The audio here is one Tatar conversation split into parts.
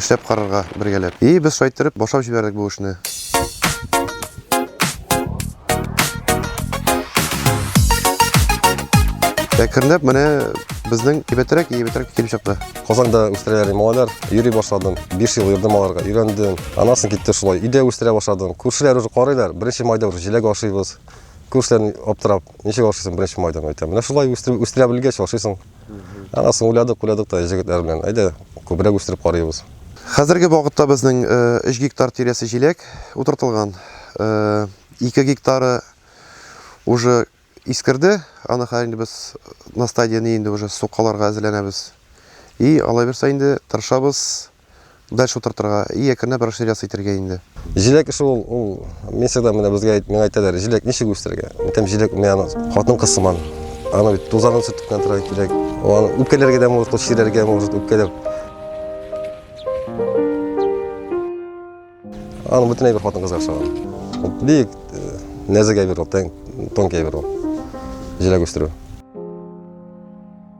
Эшләп карарга, бергәләп. И, без шайтырып, башлап җибәрдек бу эшне. Әкренләп менә безнең кибәтрәк, ебетрәк килеп чыкты. Казанда үстерәләр малайлар, йөри башладым. 5 ел йөрдем аларга, өйрәндем. Анасын китте шулай. Өйдә үстерә башладым. Күршеләр уже карыйлар. Беренче майда уже җиләк ашыйбыз. Күршеләр аптырап, ничек ашыйсың беренче майда? Әйтәм, менә шулай үстерә белгәч ашыйсың. Анасын уйладык, уйладык та җегетләр белән, әйдә, күбрәк үстереп карыйбыз. Хәзерге вакытта безнең 3 гектар тирәсе җиләк утыртылган. 2 гектары уже искерде, аны хәзер инде без на стадияне инде уже сукаларга әзерләнәбез. И алай берсә инде тырышабыз, дальше утыртырга и әкренләп расширяться итәргә инде. Җиләк эше ул, ул мин всегда менә безгә миңа әйтәләр, җиләк ничек үстерергә? Әйтәм, җиләк мин аны хатын-кыз сыман. Аны бит тузанын сөртүккән торырга кирәк. Аны үпкәләргә дә может, чирәргә может, үпкәләп. Аны бөтенләй бер хатын-кызга охшаган. Бик э, нәзек әйбер ул, тонкий әйбер ул. Җиләк үстерү.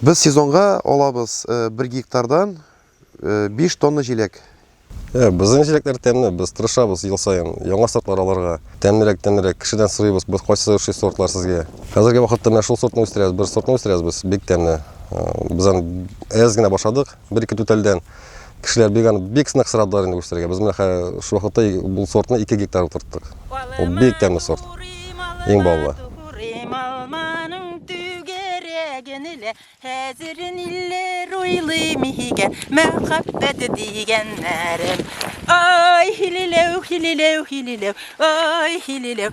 Без сезонга алабыз бер гектардан 5 тонна җиләк. Ә, безнең җиләкләр тәмле, без тырышабыз ел саен яңа сортлар алырга. Тәмлерәк, тәмлерәк. Кешедән сорыйбыз, без кайсы ошый сортлар сезгә. Хәзерге вакытта менә шул сортны үстерәбез, бер сортны үстерәбез без, бик тәмле. Без аны әз генә башладык. Бер-ике түтәлдән кешеләр бик аны бик сынак сорадылар инде үстерергә. Без менә шул вакытта бу сортны 2 гектар утырттык. Ул бик тәмле сорт. Иң баллы. Хәзер ниләр уйлыйм игә, мәхәббәт дигәннәрем. Ай, хилиләү, хилиләү, хилиләү, ай, хилиләү,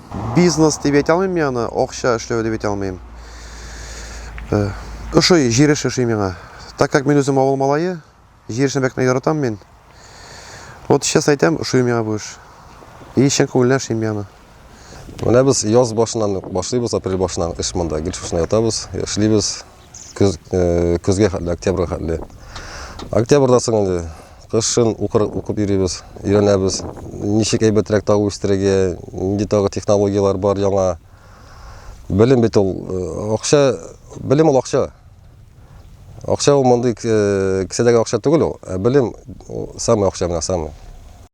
Бизнес дип әйтә алмыйм мин аны, акча эшләү дип әйтә алмыйм. Ошый, җир эше ошый миңа. Так как мин үзем авыл малае, җир эшен бәк яратам мин. Вот честно әйтәм, ошый миңа бу эш. И чын күңелдән эшлим мин аны. Менә без яз башыннан ук башлыйбыз, апрель башыннан эш монда. Гел шушында ятабыз, эшлибез. көз, э, көзгә хәтле, октябрьгә хәтле. Октябрьдан соң инде кышын укыр, укып йөрибез, өйрәнәбез. Ничек әйбәтрәк тагы үстерергә, нинди тагы технологияләр бар яңа. Белем бит ул э, акча, белем ул акча. Акча ул мондый э, кесәдәге акча түгел ул, ә белем ул самый акча менә самый.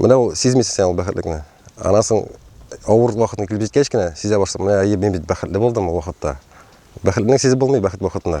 Менә ул сизмисең сен ул бәхетлекне. Анасың авыр вакытын килеп җиткәч кенә сизә башлап, менә әйе, мин бит бәхетле булдым ул вакытта. Бәхетлене сизеп булмый бәхет вакытында.